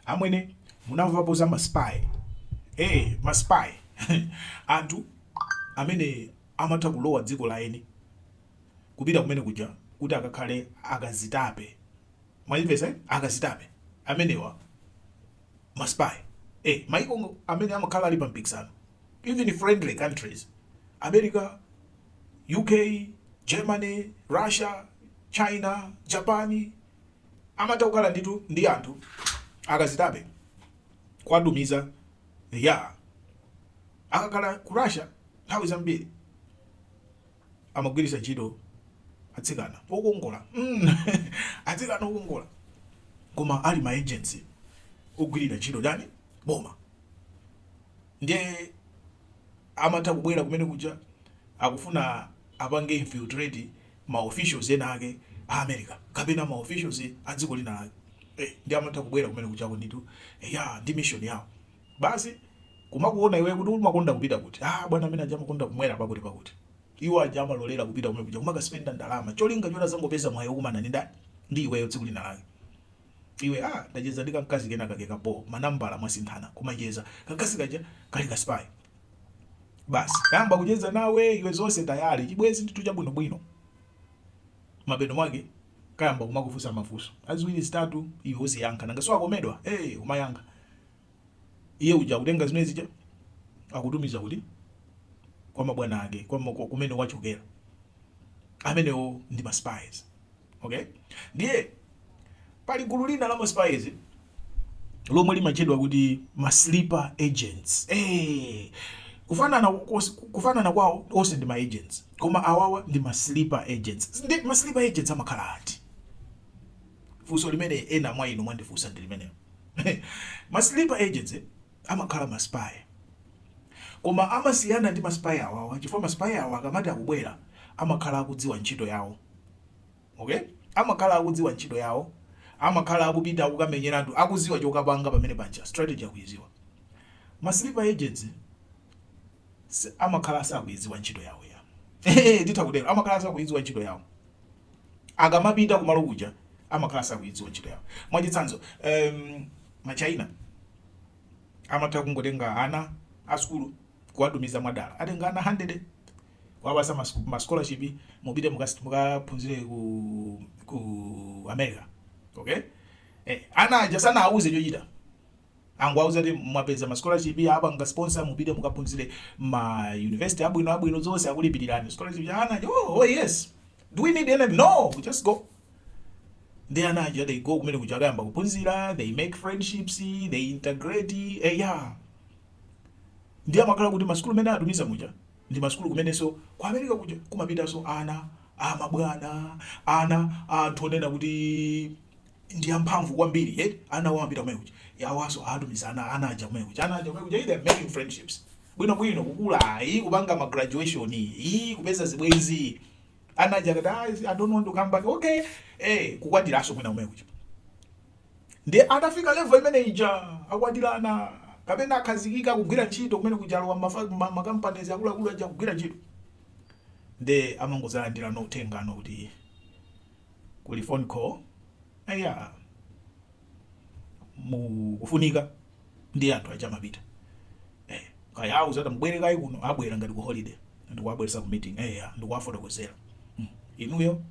Amwene munamvapo za ma spy? Eee ma spy anthu amene amatha kulowa dziko la eni kupita kumene kuja kuti akakhale akazitape mwazimvetsa eti akazitape amenewa ma spy ee maiko amene amakhala ali pa mpikisano even friendly countries America, UK, Germany, Russia, China, Japan, amatha kukhala ndithu ndi anthu akazitape kuwatumiza eya akakhala ku russia nthawi zambiri amagwiritsa ntchito atsikana okongola mm. atsikana okongola koma ali ma agents ogwirira ntchito ndani? boma ndiye amatha kubwera kumene kuja akufuna apange infiltrate ma officials ena ake a America kapena ma officials a dziko lina lake eh ndiye amatha kubwera kumene kujako ndithu eyaa ndi mission yawo basi kumakuona iweyo kuti umakonda kupita kuti aah bwana amene aja amakonda kumwera pakuti pakuti iwo aja amalolera kupita kumene kuja kumaka spender ndalama cholinga choti azangopeza mwayi okumana ndi ndani ndi iweyo tsiku lina lake iwe ah ndacheza ndi kamkazi kena kake ka bho manambala mwasinthana kumacheza kamkazi kaja kali ka spy basi kayamba kucheza nawe iwe zonse tayale chibwenzi ndithu chabwinobwino mapeto mwake kayamba kumakufunsa mafunso ziwiri zitatu iwe uziyankha nanga so akomedwa eh hey, umayankha iye uja kutenga zimene zija akutumiza kuti kwa mabwana ake kwa kumene wachokera amenewo ndi ma spies Okay? Ndiye pali gulu lina la maspies lomwe limatchedwa kuti ma sleeper agents. Eh, kufanana kufanana kwawo onse ndi ma agents. Koma awawa ndi ma sleeper agents. Ndi ma sleeper agents amakhala ati? Funso limene ena mwa inu mwandifunsa ndi limenelo. ma sleeper agents eh, amakhala ma spy koma amasiyana ndi ma spy awawa chifukwa ma spy awa akamati akubwera amakhala akudziwa ntchito yawo ok amakhala akudziwa ntchito yawo amakhala akupita kukamenyeratu akuziwa chokapanga pamene paja strategy akuiziwa ma sleeper agents si- amakhala asakuiziwa ntchito yawo ya titha kutero amakhala asakuiziwa ntchito yawo akamapita kumalo kuja amakhala asakuiziwa ntchito yawo mwachitsanzo um, ma China amatha kungotenga ana a sukulu kuwatumiza mwadala. Atenga ana 100 kuwapatsa ma scholarship, mupite mukaphunzire ku ku America. Okay? Eh, ana aja sanawauze chochita. angowauza kuti mwapeza ma scholarship apanga sponsor mupite mukaphunzire ma university abwino abwino zonse akulipirirani scholarship ya ana. Oh, oh yes. Do we need any? No, we just go. Nde ana aja they go kumene kuja akayamba kuphunzira, they make friendships, they integrate. Eh, yeah. Ndi amakhala kuti masukulu mene atumiza muja ndi masukulu kumenenso ku America kuja kumapitanso ana amabwana ana anthu onena kuti ndi amphamvu kwambiri eti ana awo amapita kumene kuja iwowaso atumiza ana ana aja kumene kuja ana aja kumene kuja they are making friendships bwino bwino kukula ayi kupanga ma graduation iyi kupeza zibwenzi ana aja akati "Ah, I don't want to come back okay eh kukwatiraso mwina kumene kuja ndi atafika level imene ija akwatirana kapena akhazikika kugwira ntchito kumene kuja alowa mafa- ma- ma companies akuluakulu aja kugwira ntchito ndi amangozalandira no uthenga no kuti kuli phone call eya mukufunika ndi anthu aja amapita eh, kaya awauza tambwerani kaye kuno abwera ngati ku holiday ndikuwabweresa ku meeting eya ndikuwafotokozera hmm. inuyo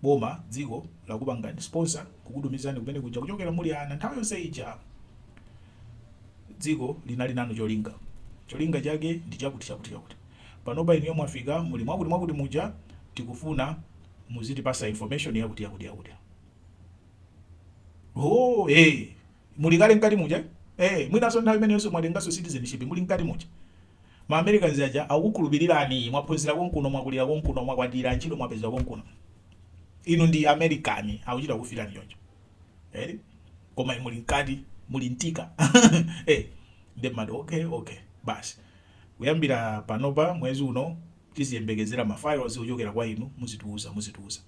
boma dziko lakupangani sponsor kukutumizani kumene kuja kuchokera muli ana nthawi yonse ija dziko linali nanu cholinga cholinga chake ndi chakuti chakuti chakuti panopa inuyo mwafika muli mwakuti mwakuti muja tikufuna muzitipasa information yakuti yakuti yakuti oh hey muli kale mkati muja eh mwinaso nthawi imeneyonso mwatengaso citizenship muli mkati muja ma americans aja akukhulupirirani mwaphunzira konkuno mwakulira konkuno mwakwatira ntchito mwapeza konkuno inu ndi american akuchita kukuitanani choncho eh koma muli mkati muli nthika eh nde amati okay okay basi Kuyambira panopa mwezi uno tiziyembekezera ma files ochokera kwa inu muzitiuza muzitiuza.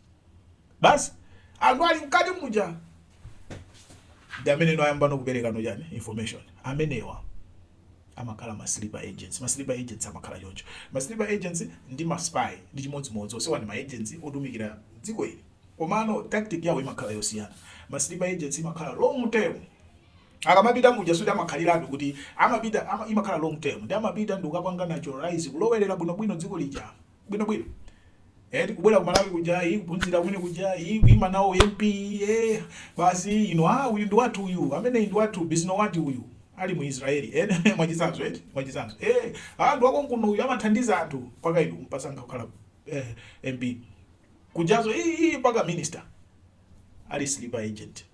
Basi anthu ali mkati muja ndi amene no ayamba no kupereka no chani information. Amenewa amakhala ma sleeper agents. Ma sleeper agents amakhala choncho. Ma sleeper agents ndi ma spy ndi chimodzimodzi onsewa ndi ma agents otumikira dziko ili komano tactic yawo imakhala yosiyana. Ma sleeper agents imakhala long term. Akamapita muja sikuti amakhaliratu kuti amapita ama, imakhala long term ndi amapita ndi kukapanga naturalize kulowerera bwinobwino dziko lija bwinobwino eti kubwera ku Malawi kuja iyi kuphunzira kumene kuja iyi kuima nawo MP eh basi ino ah uyu ndi wathu uyu amene ndi wathu bisi nokuti uyu ali mu Israeli eh mwachitsanzo eti mwachitsanzo eh ah ndi wa konkuno uyu amathandiza anthu mpaka inu kumusankha kukhala eh MP kujaso iyi mpaka minister ali sleeper agent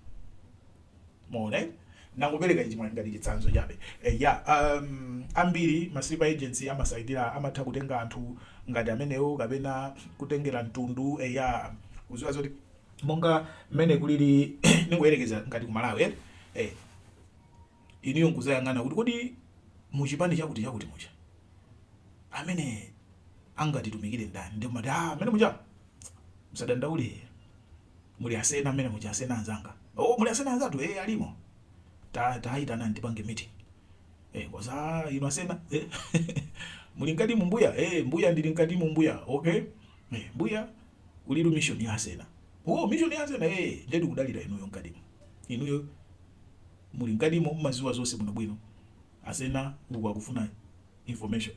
mwaona eh? nangopereka ichi ngati chitsanzo chabe eh, ya um, ambiri ma sleeper agents amasaitira amatha kutenga anthu ngati amenewo kapena kutengera mtundu eh, ya kuziwa zoti monga mmene kulili ningoyerekeza ngati ku malawi eh? eh, iniyo nkuzayang'ana kuti kodi muchipani chakuti chakuti mucha amene angatitumikire ndani ndikumati ah, mmene muja Musadandaule muli asena mmene muja asena anzanga oh muli asena anzatu eh alimo ta taitanani tipange meeting eh koza ah, inu asena eh muli mkati mu mbuya eh mbuya ndili mkati mu mbuya okay eh mbuya kuli mission ya asena oh mission ya asena eh ndetu kudalira inuyo mkati inuyo muli mkatimo mumaziwa zonse bwinobwino asena uku akufuna information